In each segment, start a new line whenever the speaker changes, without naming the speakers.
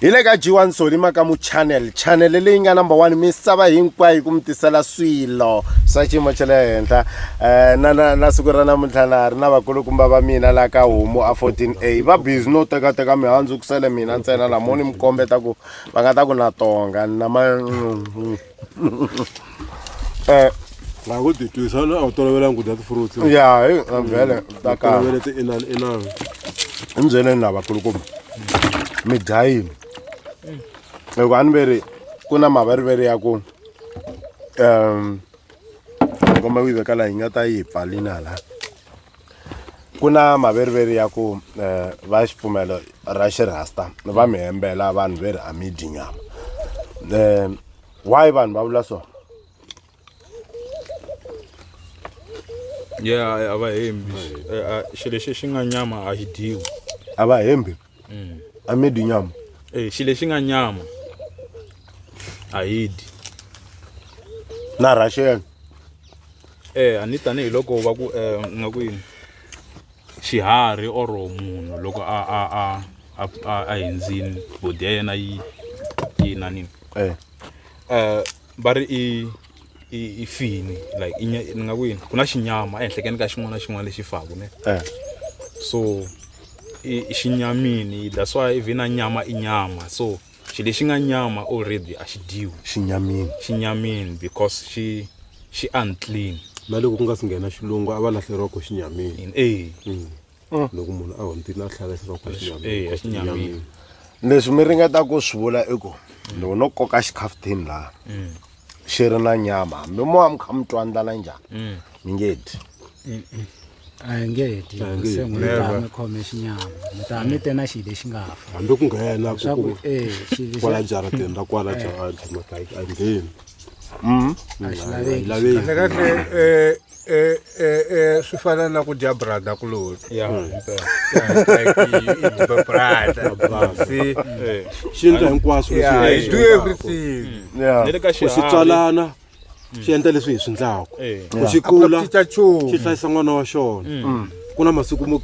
hi le ka jiwa
nsoli maka mu channel channel leyi nga number one misava hinkwayo yi ku mi tisela swilo swa xiyimo xa le henhla um na na na siku ra namuntlha na ri na vakulukumba va mina laha ka homu a 14 a va busy no tekateka mihandzu ku sele mina ntsena lamoni mi kombeta ku va nga ta ku na tonga na ma
Eh, laha ku ti twisa na a wu tolovelanga ku dya ti-fruits ya hi a vhele
ta kala tolovele ti-inani inani
hi
mi byeleni lava kulukumba mi dya yini loko a ni ve ri ku na maveriveri ya ku um komba ku yi veka laha yi nga ta yi hi pfalini hala ku na maveriveri ya ku um va xipfumelo ra xirhasta va mi hembela vanhu ve ri a mi dyi nyama um why vanhu va vula swona
ya a va hembi xilo lexi xi nga nyama a xi dyiwi a va hembi
a mi dyi nyama Eh, xi lexi nga
nyama a yi dyi
na rhaxela
eh a ni tanihiloko va ku eh nga ku yini xiharhi or munhu loko a a a a a, a hindzini body ya yena yi yi na nini eh eh va ri i i i fini like i nya- ni nga ku yini ku na xinyama ehenhlekeni ka xin'wana na xin'wana lexi faku ne Eh. so i i xinyamini that's why even na nyama i nyama so xi lexi nga nyama already a xi dyiwi xinyamini xinyamini because xi xi unclean na loko ku nga si
nghena xilungu a va lahleriwa ko xinyamini in a Mm. loko munhu a hundzile a tlhela xinyamini
leswi mi
ringeta ku swi vula i ku loko no koka xikhafuthini laha mm. xi ri na nyama hambi mo wa mi kha mi twa ndlala njhani mm. mi nge dyi
a hi nge dyi se n'wi ta mi khome xinyama mi ta mi te na xi lexi nga fa hambi ku nghena
eh, kwala
jarateni ra
kwala jaratini a hi
ngheni a xi laveki
kahle
kahle um Eh, eh,
eh, swi fana na ku dya brada
kuloni
xi endla
hinkwaswo do
everything swi
tswalana
swi endla leswi hi swi ndlaku ku xi kula
xi
hlayisa
n'wana wa
xona mm. ku na masiku mo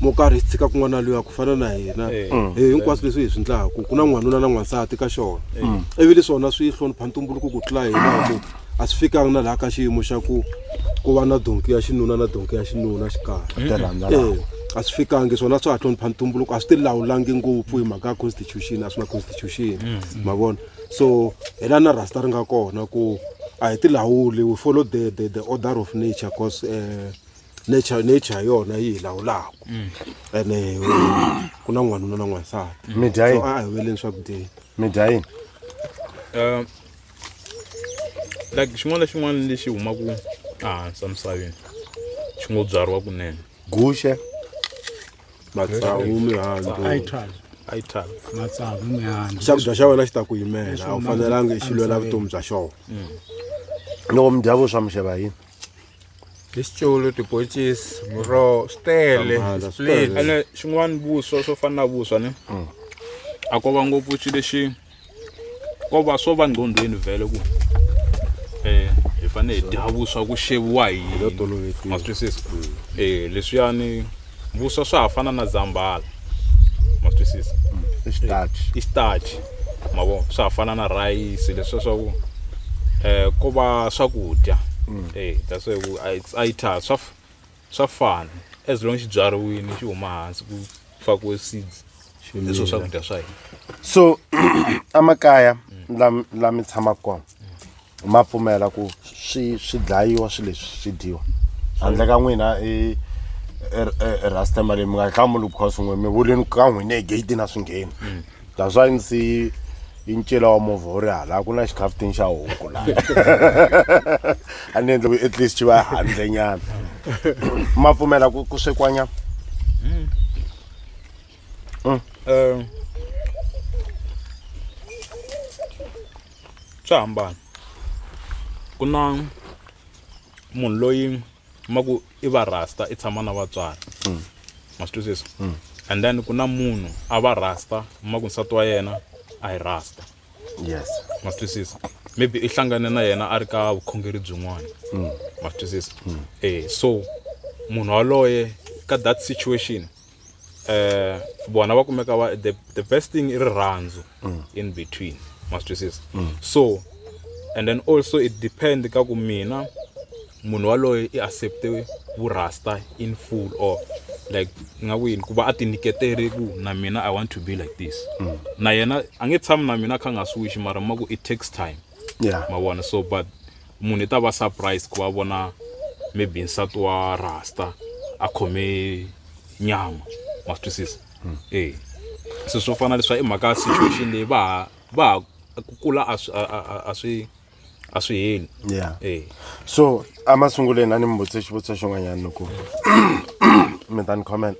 mo karhi hi tshika kun'wana luya ku fana na hina eh. mm. eh, hinkwaswo leswi hi swi ndlaku ku na n'wanuna na n'wansati ka xona mm. ivi leswona swi hlonipha ntumbuluko ku tlula hina ku a swi fikanga na laha ka xiyimo xa ku ku va na donki ya xinuna na donki ya xinuna xikarhi a swi fikangi swona swa ha hlonipha ntumbuluko a swi ti lawulangi ngopfu hi mhaka ya constitution a swi na constitution mm. ma vona so hi la na rasta ri nga kona ku a hi ti lawuli we follow the, the, the order of nature because uh, nature nature yona yi hi lawulaka mm. ene eh, ku na n'wanuna na n'wansati so a hi
weleni swakudyeni
mi dya yini
um
like xin'wana na xin'wana lexi humaka ehansi emisaveni xi ngo byariwa kunene guxe
matsavu
mihandzu
xakudya xa wena xi ta ku
yimela a wu fanelanga xi lwela vutomi bya xona
mm. loko mi dya vuswa mixeva yini
tisitshulu tiboncisi muroho swi tele ene xin'wana
vuswa
swo fana na vuswa ni mm. a ko va ngopfu xi lexi ko va swo va nqondweni vhele ku um hi fanele hi dya vuswa ku xeviwa hi ma twisisa um leswiyani vuswa swa ha fana na zambhala ma twisisa
i xitachi
ma vo swa ha fana na rhayisi leswiya swa ku um ko va swakudya e that's why ku a it's a yi tha swa swa fana as long xi byariwini xi huma hansi ku fakiwe seeds hi swo swakudya swa hina so
amakaya lam- lami tshamaka kona ma pfumela ku swi swi dlayiwa swi leswi swi dyiwa handle ka n'wina i rasta mali mi nga hlamuli because n'we mi vuleni ka n'wina egeyitini a swi ngheni that's why ndzi see i ncila wa movha wu ri hala ku na xikhaftini xa huku la a ni endle ku at least xi va handle nyana ma pfumela ku ku swekwanya hmm. hmm.
eh, swa hambana ku na munhu loyi ma ku i va rasta i tshama na vatswari mm. ma swi twisisa mm. and then ku na munhu a va rasta ma ku nsati wa yena a hi rasta yes
ma swi twisisa
maybe i hlangane na yena a ri ka vukhongeri byin'wana mm. ma swi twisisa mm. eh so munhu waloye ka that situation eh vona va kumeka va the, the best thing i rirhandzu mm. in between ma swi twisisa mm. so and then also it depend ka ku mina munhu waloye i accepte vurasta in full or like nga ku yini ku va a tinyiketere ku na mina i want to be like this mm. na yena a nge tshami na mina kha nga swiwixi mara ma ku it takes time yeah. ma vona
so but
munhu i ta va surprise ku va vona maybe nsati wa rasta a khome nyama ma swi twisisa hmm. e se swo fana leswa i mhaka situation leyi va ha va ha ku kula a swi a swi a swi heli ya e
so a masunguleni a ni mi vutise xivutiso xin'wanyana loko mi ta ni comment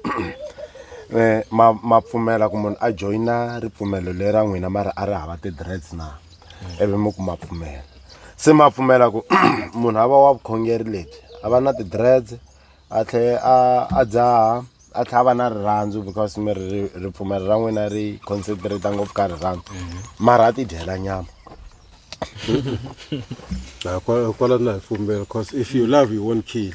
eh, ma ma pfumela ku munhu a joyina ripfumelo lera n'wina mara a ri hava ti-dreads na ivi mi ku ma pfumela se ma pfumela ku munhu a va wa vukhongeri lebyi a va na ti-dreads a tlhe a a dzaha a tlhe a va na rirhandzu because mi ri ripfumelo ra n'wina ri concentrate ngopfu ka rirhandzu mhm. mara a ti dyela nyama
kwala na hi pfumela because if you love you won't kill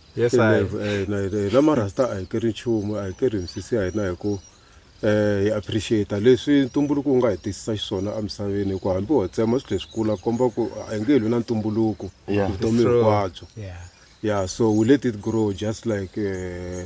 Yes, I. Levu, eh, na hina- hina marasta a hi keri nchumu a hi keri misisi ya hina hi ku eh, hi appreciate leswi ntumbuluko wu nga hi tisisa xiswona emisaveni hi ku hambi ho tsema swilo leswi kula komba ku a hi nge hi lwi na ntumbuluko Yeah. vutomi It's true. hinkwabyo Yeah. yeah so we let it grow just like eh,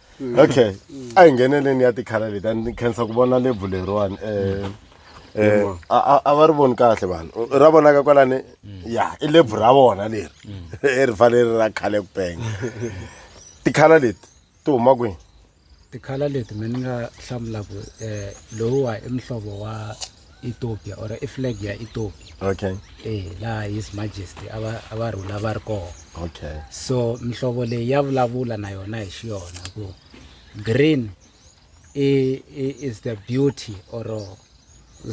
mm. okay mm. a hi ngheneleni ya tikhala leti a ni khensa ku vona lebvu leriwani um Eh, a va ri voni kahle vanhu ra vonaka kwalani mm. ya i lebvu ra vona leri mm. i ri fanele ra khale ku penga tikhala leti ti huma kwini tikhala leti
mina ni nga hlamulaka um eh, lowuwa i muhlovo wa ethiopia or i flag ya ethiopia okay eh
laha his
majesty a va a va rhula va ri kona okay so
mihlovo
leyi ya vulavula na yona hi xiyona ku green i, i is the beauty or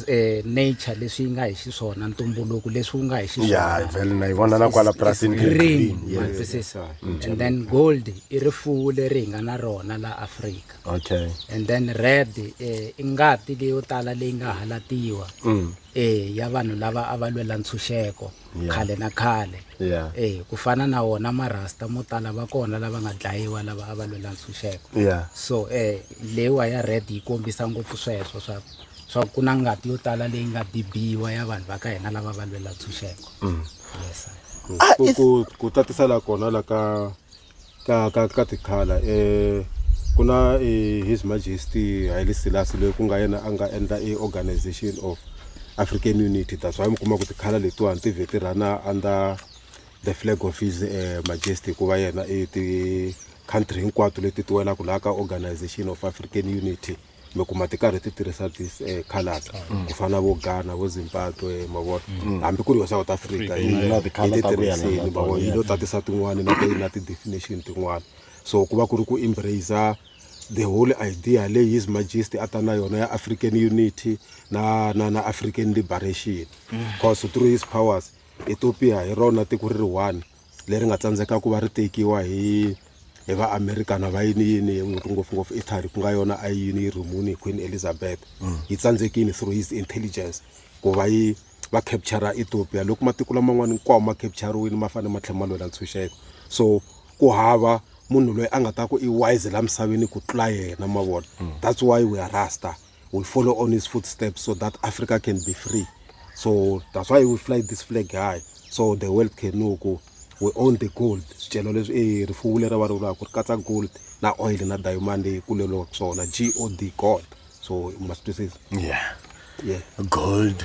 eh, nature leswi yi nga hi xiswona ntumbuluko leswi wu nga hi xiswona vele na yi vona na kwala
purasini green yes.
and then gold i rifuwo leri hi nga na rona la afrika okay and then
red
eh, i ngati leyo tala leyi nga halatiwa mm. eh, ya vanhu lava a va lwela ntshunxeko yeah. khale na khale yeah. eh, ku fana na wona marasta mo tala va kona lava nga dlayiwa lava a va lwela ntshunxeko yeah. so eh, leyiwa ya red yi kombisa ngopfu sweswo swa swa ku na ngati yo tala leyi nga bibiwa ya vanhu va ka hina lava va lwela ntshunxeko mm. yes, ah, ku
tatisa la kona la ka ka ka ka tikhala i ku na i his majesty Haile Selassie loyi ku nga yena a nga endla i organization of African unity that's why mi kuma ku tikhala letiwani ti vhe ti rhana under the flag of his majesty hikuva yena i ti country hinkwato leti ti welaka laha ka organization of African unity. mi kuma ti karhi ti tirhisa this um eh, colors mm. ku fana vo ghana vo zimbabwe mavona mm. hambi ku ri yo south africa yi ti tirhisini mavona yi lo tatisa tin'wani na na ti-definition tin'wani so ku va ku ri ku embracer the whole idea leyi his majesty a ta na yona ya african unity na na na african liberation mm. cause through his powers ethiopia hi rona tiko ri ri one leri nga tsandzeka ku va ri tekiwa hi hi va American va yini yini ngopfungopfu Italy ku nga yona a yi yini yi rhumuni hi Queen Elizabeth mm. yi tsandzekini through his intelligence ku va yi va capture Ethiopia loko matiko laman'wana hinkwawo ma capture-wini ma fanele ma tlhela ma lwela ntshunxeko so ku hava munhu loyi a nga ta ku i wise la misaveni ku tlula yena mavona mm. that's why we are rasta will follow on his footsteps so that Africa can be free. So that's why we fly this flag high. So the world can know go. We own the gold. Sicelo leswi eh rifuwo leri va ri vulaka ku ri katsa gold na oil na diamond leyi kuleriwaka swona G O D gold. So you must twisisa. Yeah. Yeah. Gold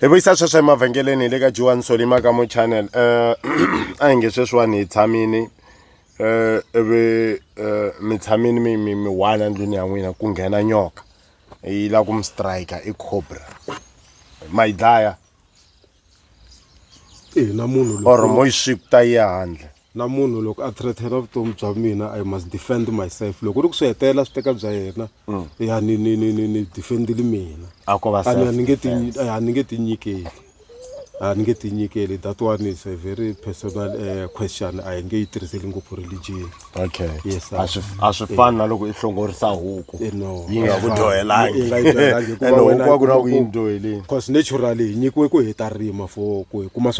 hi vuyisa sweswo emavhengeleni le ka joan solima ka mo channel um a hi nge sweswiwani hi tshamini um ivi um mi tshamini mi mi mi one endlwini ya n'wina ku nghena nyoka yi lava ku mi strike i cobra ma yi dlaya
or mo yi swikuta
yi ya handle Na munhu loko a
threaten-a vutomi bya mina I must defend myself. Loko ku ri ku swi hetelela swi teka bya yena, ya ni ni ni ni ni defend-ile
mina.
A ko va A ni a ni
nge ti
self-defense. a ni nge ti nyikeli. A ni nge ti nyikeli. That one is a very personal eh, question a hi nge yi tirhiseli ngopfu religion. Okay. Yes,
sir. A swi
a swi fani na
loko i hlongorisa huku. Eh, no. Yi
nga ku Yi
dyohelangi. nga yi
dyohelangi hikuva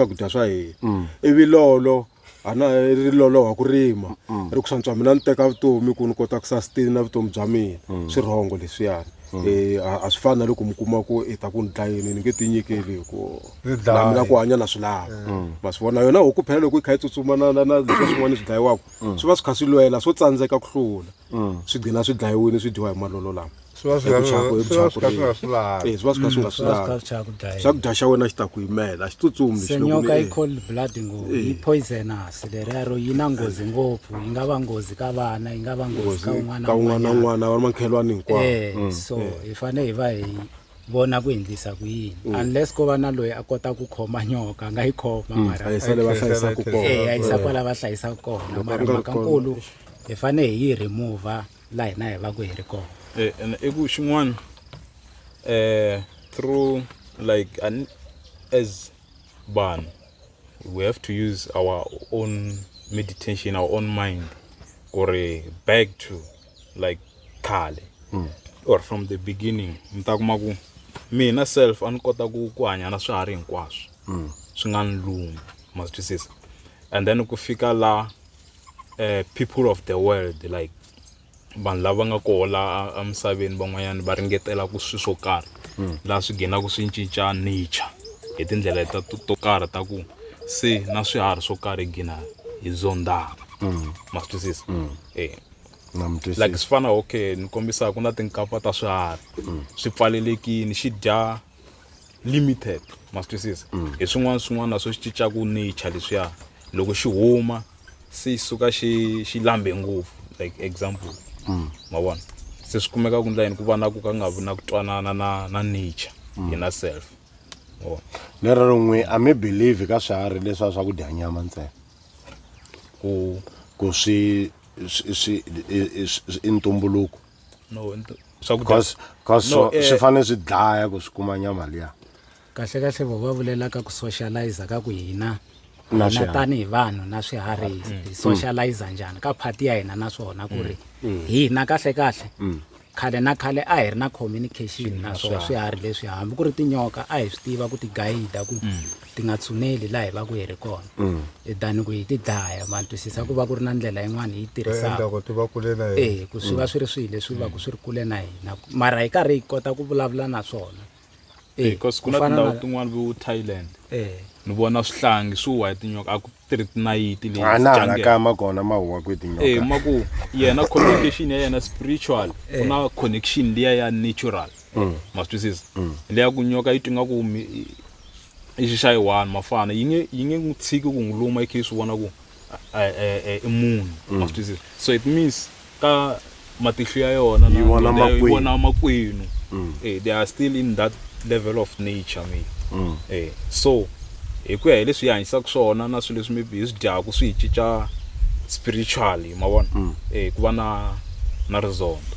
Ene mm. ivi lolo ana ri loloha ku rima mm. ri ku swantswa mina ni teka vutomi ku ni kota ku sustain vutomi bya mina mm. swirhongo leswiyani um a swi fani na loko mi kuma ku i ta ku ni dlayini ni nge ti nyikeli hi ku na mina ku hanya na swi lava ma swi vona yona hoku phela loko yi kha yi tsutsuma na na na leswi swin'wana swi dlayiwaka swi va swi kha swi lwela swo tsandzeka ku hlula swi gcina swi dlayiwile swi dyiwa hi malolo lama swi va swi Hi ku chaka, hi ku swi
va chaka swi kha swi nga swi lavi Eh, swi va swi kha swi nga swi Swa lavi
skarhi cha ku dlaya. swakudya xa wena xi ta ku yimela a xi tsutsumi lexi loko senyoka ni- yi cold
blood ngopfu yi poisonous leriyaro yi na nghozi ngopfu yi nga va nghozi ka vana yi nga va nghozi ka un'wana ka un'wana na un'wanyana. un'wana va ri
makhelwani hinkwawo Eh, so hi fanele
hi va hi vona ku endlisa ku yini unless ko va na loyi a kota ku khoma nyoka a nga yi khoma mara a yi sale va hlayisa ku
Eh, kona a yisa kwala va
hlayisaka kona mara mhaka nkulu hi fane hi yi remove la hina hi va ku hi ri kona eh and i ku
xin'wana eh through like an as ban we have to use our own meditation our own mind or back to like khale mm. or from the beginning mi ta kuma ku mina self a ni kota ku ku hanya na swiharhi hinkwaswo mm. swi nga ni lumi ma swi twisisa and then ku fika la eh, people of the world like vanhu lava nga koho la emisaveni van'wanyana va ringetela ku swi swo karhi hmm. laha swi ghinaka swi cinca nature hi tindlela ta to karhi ta ku se na swiharhi swo karhi hi gina hi zondaka hmm. ma swi twisisa hmm. e like swi fana okay ni kombisa ku na tinkapa ta swiharhi swi pfalelekini xi dya limited ma swi twisisa hi swin'wana swin'wana na swo xi cincaka nature leswiya loko xi huma se xi suka xi xi lambe ngopfu like example ma vona se swi kumeka ku ndla yini ku va na ku ka nga vi na ku twanana na na nature hi na self ma vona
lero rin'we a mi believe ka swiharhi leswiya swa ku dya nyama ntsena ku ku swi swi- swi i- i- swi- i ntumbuluko no
swakudya
cause no, eh, swi fanele swi dlaya ku swi kuma nyama liya kahle kahle vo
va vulelaka ku socialize ka ku hina na tanihi
vanhu
na
swiharhi
mm. hi mm. socialize njhani ka phati ya hina naswona ku ri mm. hina kahle kahle khale na khale a hi ri na communication naswona swiharhi leswi hambi ku ri tinyoka a hi swi tiva ku ti guide ku ti nga tshuneli laha hi va ku hi ri kona mm. e than ku hi ti dlaya ma twisisa ku va ku ri na ndlela yin'wana hi yi tirhisaka
e ku swi va mm. swi ri swihi leswi
va ku swi ri kule na hina mara hi karhi hi kota ku vulavula na swona e, because ku
na tindhawu tin'wana vo thailand e. ni vona swihlangi swi wa hi tinyoka a ku tirhi tinayiti leyianakama
kona ma huwa ku tinyoka e ma ku yena
communication ya yena spiritual ku na connection liya ya natural mm. ma swi twisisa mm. leya ku nyoka yi twi nga ku i xi xa yi one mafana yi nge yi nge n'wi tshiki ku n'wi luma i khe yi swi vona ku i munhu mm. ma swi twisisa so it means ka matihlo ya yona yi vona
makwenu
eh, they are still in that level of nature maybe mm. eh so hi ku ya hi leswi yi hanyisaka swona na swilo leswi maybe hi swi dyaku swi hi cinca spiritually ma vona mm. eh ku va na na rizondo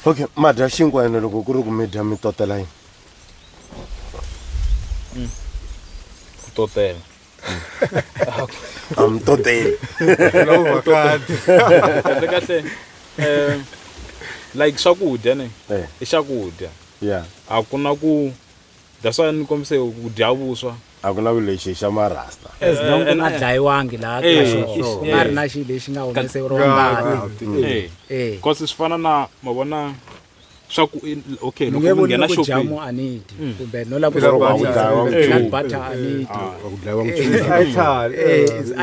okay ma dya xinkwa
ene loko ku ri ku mi dya mi totela yini mm.
ku totela
a mi toteli kahle
kahle um like swakudya ne eh. i swakudya a
ku na ku
That's why ni kombise ku dya vuswa. A ku na ku lexi
xa ma rasta. As eh, long ku nga eh,
dlayiwangi laha eh, ka xona. Ku nga ri na xilo lexi nga humeseriwa ngati. Eh. Because swi
fana na ma vona swa ku okay loko mi nghena shopping
a
ni dyi
hmm.
kumbe
no lava ku dlayiwa
nchumu butter
a ni dyi ah, ku dlayiwa nchumu
i tali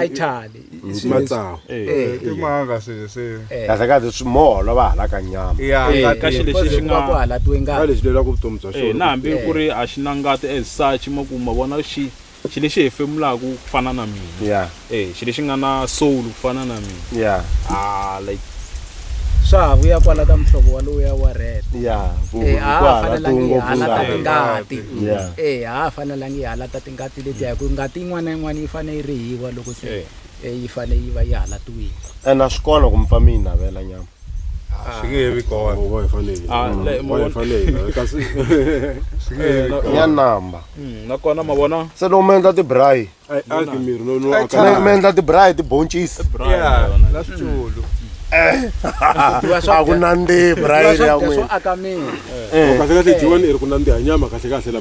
i
tali matsawu
Eh, timanga
se se kahle kahle swi moholo
va halaka nyama ya Eh, ngati ka xi lexi Because
xi ku va ku nga halatiwe ka ngati
lexi lelaka vutomi
bya
eh, xona
na hambi ku ri
a xi
na
ngati as such ma ku ma vona xi xi lexi hefemulaka ku fana na mina ya eh xi lexi
nga na
soul ku fana na mina ya ah
like
swa
ha vuya kwala ka muhlovo wa lowuya wa red ya Eh, a
ha ha
fanelangi hi halata tingati ya eh a ha
ha fanelangi hi
halata ngati leti ya ku ngati yin'wana na yin'wana yi fanele yi rihiwa loko se eh. Eh,
yi
fanele
yi va yi halatiwile
ene a
swi kona
ku mi pfa
mi
yi
navela
nyama
ah, swi
nge he vi kona
ya namba hmm, nakona ma vona
se loko mi endla tibrayi
mi
endla tibrayi
tiboncisi a ku nandzihi brayi ya n'wina eh.
eh. kasi kahle
jiwani i ri ku nandziha nyama kahle kahle la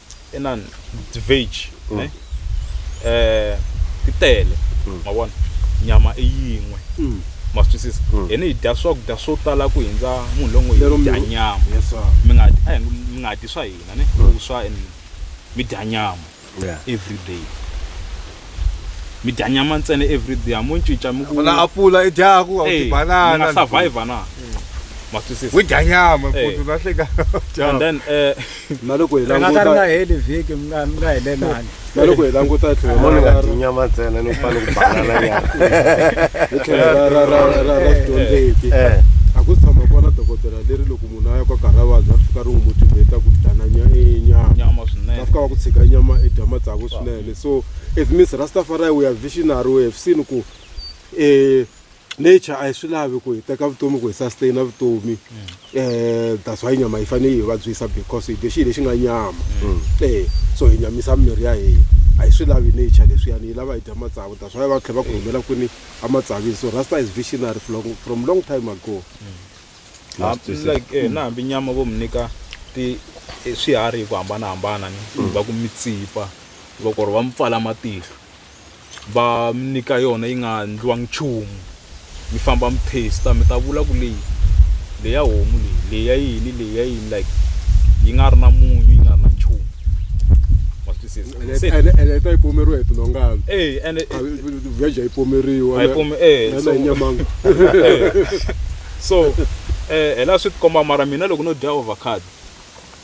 i na veggie mm. ne eh ti tele mm. ma vona nyama i yin'we mm. ma swi twisisa mm. hina hi dya swakudya swo tala ku hundza munhu longo yi dya nyama mi nga
a mi nga
dyi swa hina ne mm. swa and mi dya nyama every day mi dya nyama ntsena every day a mo cinca mi ku na apula i dyaku
a ti banana nga
survive
na
ma twisisa wi dya nyama futhi
na hleka and then
eh na loko hi
languta nga heli
vhiki mi nga
mi
nga helelani na loko hi languta
hi tlhelo ra nga dyi nyama
ntsena ni fane ku banana nyama hi tlhelo ra ra ra ra ra
swidyondzeki eh. a ku tshama kona dokodela leri loko munhu a ya kwa karhi a vabya ri fika ri n'wi motivate ku dana nyama va fika va ku tshika
nyama
i dya matsavu swinene so it means rastafari we are visionary we have seen ku um nature a yi swi lavi ku hi teka vutomi ku hi sustain na vutomi um that's why nyama yi fanele yi vabyisa because hi dye xihi lexi nga nyama e so hi nyamisa mirhi ya hina a yi swi lavi nature leswiyani yi lava hi dya matsavu that's why va tlhela va ku humela kwini amatsavini so rasta is visionary from long time ago like eh,
na hambi nyama vo mi nyika ti eh, swiharhi hi ku hambanahambana ni va ku mitsipa va ku ri va mi pfala matihlo va mi nyika yona yi nga endliwangi nchumu mi famba mi taste mi ta vula ku leyi leyi ya homu leyi leyi ya yini leyi ya yini like yi nga ri na munyu yi nga ri na nchumu ma swi twisisa ene ene ta yi pomeriwa
hi tinhongana e ene
vheja yi
pomeriwa a yi pome e na hi
nyamanga
so
um hi laha swi ti komba mara mina loko no dya ovacado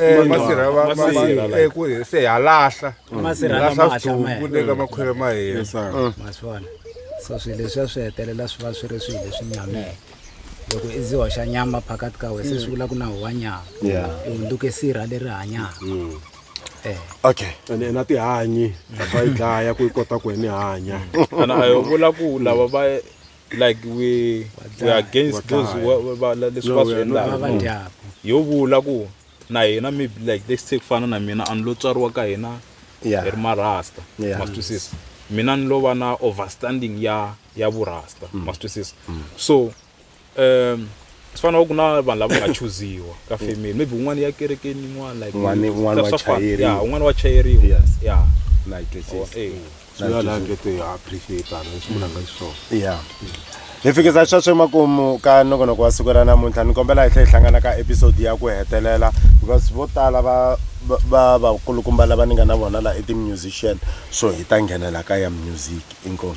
Eh, masirha va- va- Masirha, va- eh, ku hi- se ha lahla Masirha lama lahla hatla
ma swithuku le ka
makhwele
ma
hina Yes, sir. Mm. ma swi vona
so swilo leswiya swi hetelela swi va swi ri swilo leswi nyameke loko i ziwa xa nyama phakati ka wena se swi vula ku na huwa nyama Yeah. i hundzuke sirha leri hanyaka Mm. Eh.
okay ene na
tihanyi va yi dlaya ku yi kota ku ene hanya ana a yo vula
ku lava va like we we against those leswi va swi endlaka yo
vula ku
na hina maybe like let's take fana na mina a ni lo tswariwa ka hina hi ri marasta ma swi twisisa mina ni lo va na overstanding ya ya vurasta mm. ma swi twisisa mm. so um swi fana ku na vanhu lava nga chuziwa ka mm. family maybe un'wana ya kerekeni yin'wana like un'wana wa chayeriwa
ya un'wana wa chayeriwa
ya na yi twisisa
ya
hi fikisa sweswo emakumu ka nongonoko wa siku ra namuntlha ni kombela hi tlhe hi hlangana ka episode ya ku hetelela because vo tala va va- va vakulukumba lava ni nga na vona la i ti-musician so hi ta nghenela ka ya music inkomu